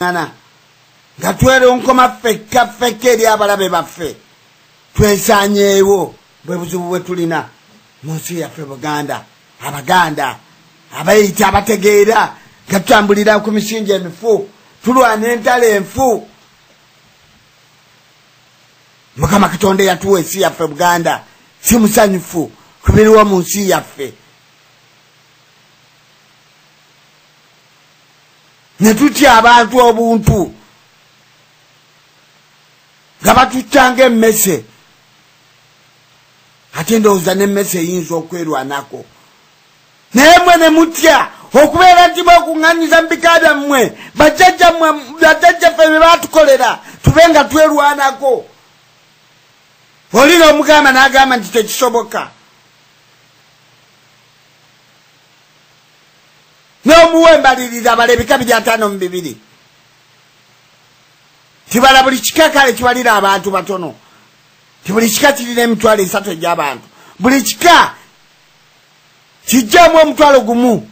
ngana nga tweronkoma ffekka ffekka eri abalabe baffe twesanyeewo bwe buzibu bwe tulina mu nsi yaffe buganda abaganda abayita abategeera nga tutambulira ku misingi emifu tulwana entalo enfu mukama katonda eyatuwa ensi yaffe buganda si musanyufu ku biriwo mu nsi yaffe ne tutya abantu obuntu nga batuttanga emmese ate ndowooza n'emmese eyinza okwerwanako naye mwe ne mutya okubeera nti bwekuŋŋanyiza mu bika byammwe bajjajjaffe bye baatukolera tube nga twerwanako olina omugamba n'agamba nti tekisoboka n'omuwa embalirira abala ebika biri ataano mu bibiri tibala buli kika kale kibalira abantu batono ti buli kika kirina emitwalo esatu egy'abantu buli kika kijjamu omutwalo gumu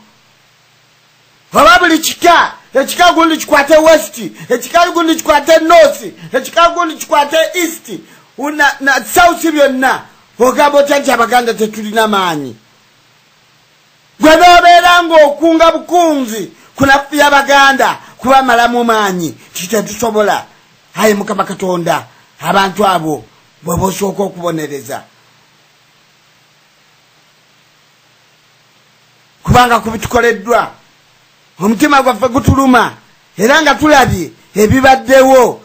oba buli kika ekika gundi kikwate west ekika gundi kikwate north ekika gundi kikwate east na, na south byonna ogamba otya nti abaganda tetulina maanyi Gwe nobeera ng'okunga bukunzi kunafuya Baganda kubamalamu maanyi kitetusobola. Ayi Mukama Katonda abantu abo bweba osooka okubonereza. Kubanga kubitukoleddwa omutima gwaffe gutuluma era nga tulabye ebibaddewo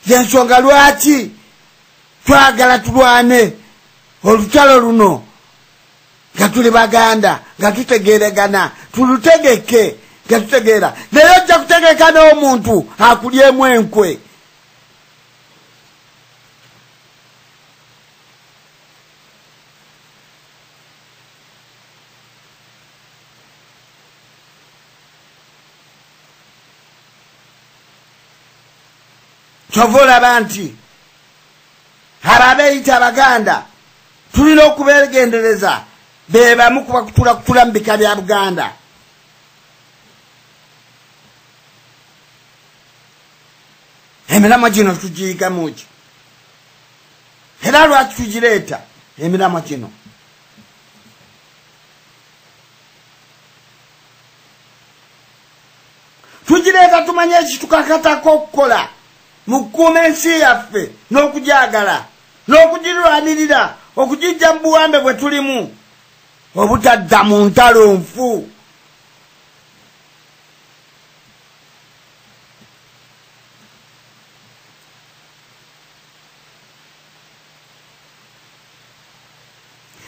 yensonga lwaki twagala tulwane olutalo luno nga tuli baganda nga tutegeregana tulutegeke nga tutegeera naye ojja kutegeka n'omuntu akulyemu enkwe kyova olaba nti abo abeeyita abaganda tulina okubegendereza bebamu kubakutula kutula mu bika bya buganda emiramwa gino tugiyigamuki era lwaki tugireeta emiramwa gino tugireeta tumanye ekitukakatako okukola mu kukuuma ensi yaffe n'okugyagala n'okugirwanirira okugijja mu buwambe bwe tulimu obutadda mu ntalo nfu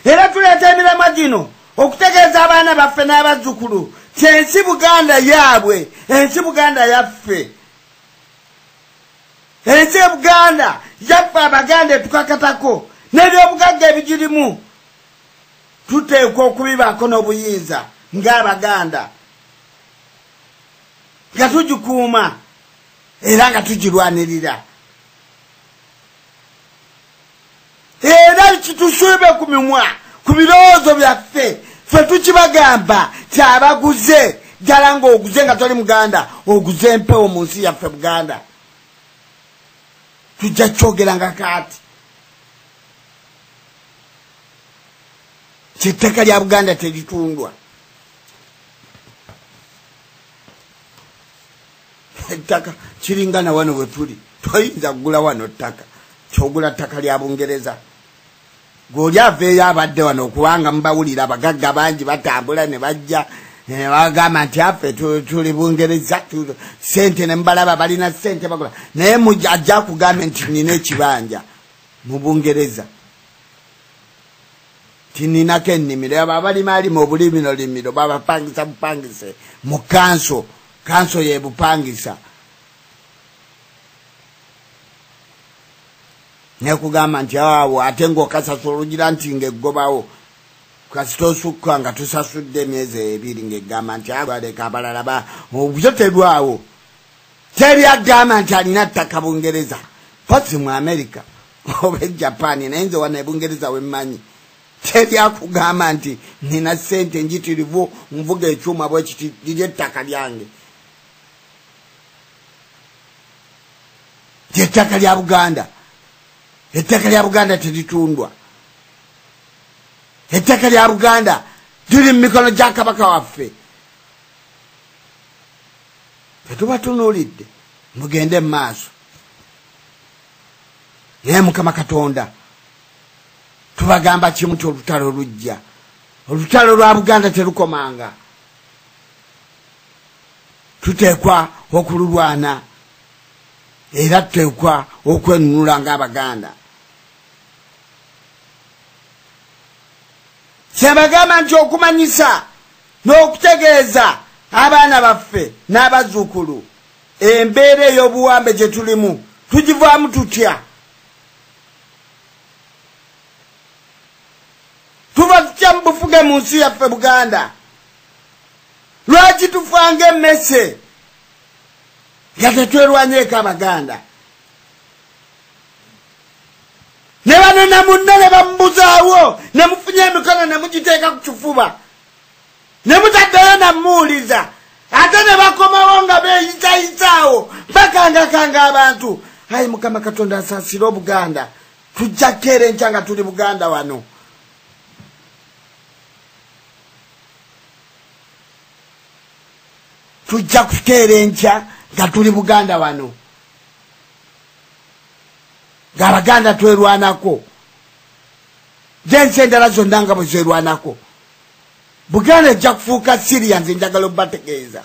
era tuleeta emiramwa gino okutegeeza abaana baffe n'abazzukulu ti ensi buganda yaabwe ensi buganda yaffe ensi ebuganda yaffe abaganda etukakatako nebyobugagga ebigirimu tuteekwa okubibaako n'obuyinza ng'abaganda nga tugikuuma era nga tugirwanirira era kitusiibe ku mimwa ku birowoozo byaffe fe tukibagamba ti abaguze ddala ng'oguze nga toli muganda oguze empewo mu nsi yaffe buganda tujja kyogera nga kaati kyettaka lya buganda teritundwa ettaka kiringa na wano wetuli toyinza kugula wano ttaka kyogula ttaka lya bungereza gweoli aveeyo abadde wano okubanga mubawulira abagagga bangi batambula ne bajja bagamba nti affe tuli bungereza sente nemubalaba balina sente bagula naye ajja kugambe nti nina ekibanja mu bungereza tininako ennimiro abo abalima alima obulimiro limiro babapangisa bupangise mu kanso kanso yebupangisa nekugamba nti awo ate ngaokasasula olugira nti ngaeggobawo kasita osukka nga tusasudde emyezi ebiri ngaegamba nti aleka abalala ba obyo terwawo teri agamba nti alina ttaka bungereza posi mu amerika oba ejapan naye nze wano ebungereza wemmanyi tebyakugamba nti nina sente njitirivu nvuga ekyuma bwekiti liri ettaka lyange lyettaka lya buganda ettaka lya buganda teritundwa ettaka lya buganda liri mu mikono gya kabaka waffe tetubatunulidde mugende mu maaso naye mukama katonda tubagamba kimu nti olutalo lujja olutalo lwa buganda terukomanga tuteekwa okululwana era tuteekwa okwenunula ngaabaganda kyebagamba nti okumanyisa n'okutegeeza abaana baffe n'abazuukulu embeera ey'obuwambe gye tulimu tugivaamu tutya tuva tutya mu bufuge mu nsi yaffe buganda lwaki tufanga emmese nga tetwerwanyeeko abaganda ne bano namunna ne bamubuzaawo ne mufunye emikono ne mugiteeka ku kifuba ne mutaddayo namuwuliza ate ne bakomawo nga beeyitayitaawo bakangakanga abantu ayi mukama katonda asaasire obuganda tujja keera enkya nga tuli buganda wano tujja kukeera enkya nga tuli buganda wano ng'abaganda twerwanako jensi endala zonna nga bwe zerwanako buganda ejja kufuuka siria nze njagala obategeeza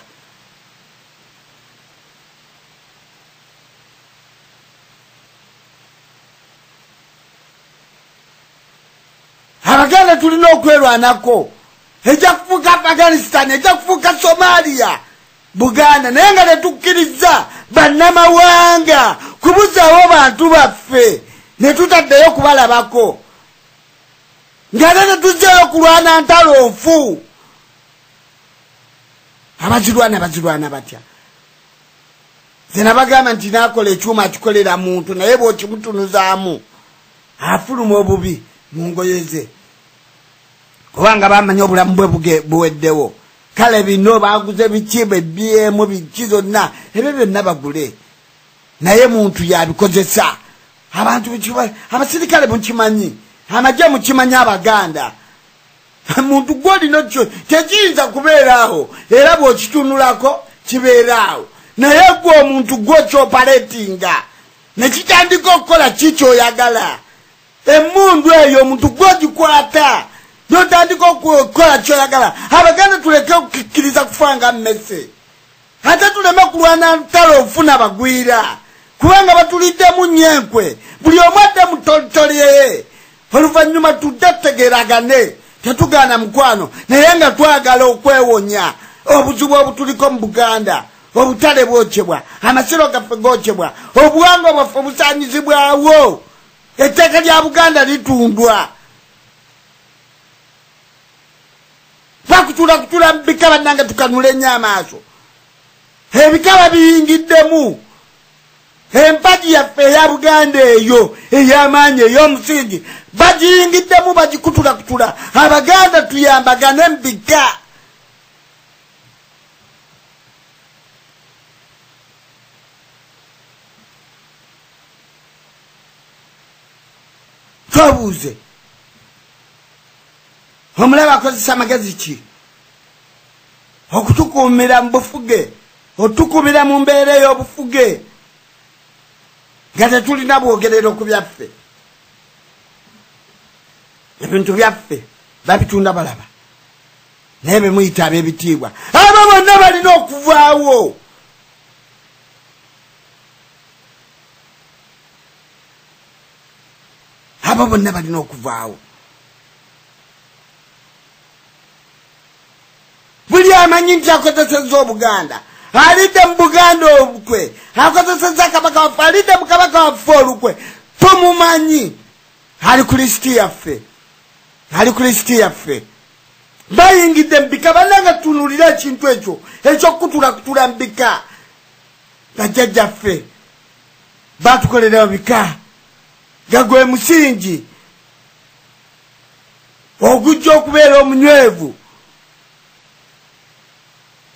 abaganda tulina okwerwanako ejja kufuuka afghanistan ejja kufuuka somalia buganda naye nga tetukkiriza bannamawanga kubuzawo bantu baffe netutaddeyo kubalabako ngate tetujjayo kulwana ntalo nfu abazirwana bazirwana batya zena bagamba nti nakola ekyuma akikolera muntu naye bwokimutunuzaamu afuluma obubi mu ngoye ze kubanga bamanyi obulamu bwe buweddewo kale bino baguze biki bebyemu biki zonna ebyo byonna bagule naye muntu yabikozesa abantu abasirikale mukimanyi amagye mukimanyi abaganda muntu gwolina kyo tekiyinza kubeeraawo era bwokitunulako kibeeraawo naye gwe omuntu gwe okyopaletinga nekitandika okukola ki kyoyagala emundu eyo omuntu gwe ogikwata notandika okukola kyoyagala abaganda tuleke okukikkiriza kufa nga mmese ate tuleme kulwana ntalo ofuna bagwira kubanga batuliddemu nnyo enkwe buli omu adde mu tolitoliyeye oluvannyuma tudde tutegeragane tetugaana mukwano naye nga twagala okwewonya obuzibu obutuliko mu buganda obutale bwokyebwa amasiro gaffe gokyebwa obuwanga bwaffe busanyizibwawo etteeka lya buganda litundwa vakutula kutula mubikaba nange tukanula enyo amaaso ebikaba biyingiddemu empagi yaffe eya buganda eyo eyamaanyi ey'omusingi bagiyingiddemu bagikutula kutula abaganda tuyambagane mubika twebuuze omulaba akozesa magezi ki okutukuumira mu bufuge otukubira mu mbeera ey'obufuge nga tetulina bwogerero ku byaffe ebintu byaffe babitunda balaba naye bemuyita ab'ebitiibwa abo bonna balina okuvaawo abo bonna balina okuvaawo buli amanyi nti akozeseza obuganda alidde mu buganda olukwe akozeseza kabaka waffe alidde mu kabaka waffe olukwe tumumanyi ali ku lisiti yaffe ali ku lisiti yaffe bayingidde mubika bananga tunulira ekintu ekyo ekyokukutula kutula mubika bajjajjaffe batukolera bika nga gwe musingi ogujja okubeera omunywevu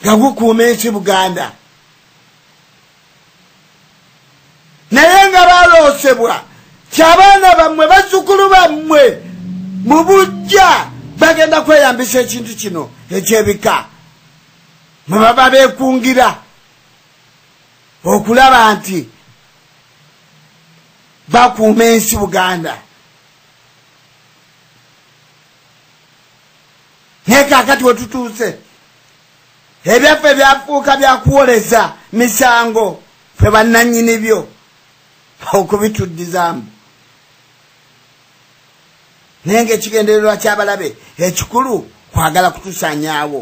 nga gukuuma ensi buganda naye nga baloosebwa kyabaana bammwe bazzukulu bammwe mu bujja bagenda kweyambisa ekintu kino ekyebika mwebaba bekungira okulaba nti bakuuma ensi buganda naye kakati wetutuuse ebyaffe byafuuka byakuwoleza misango fe bannanyini byo okubituddizaamu naye ngaekigendererwa kyabalabe ekikulu kwagala kutusanyaawo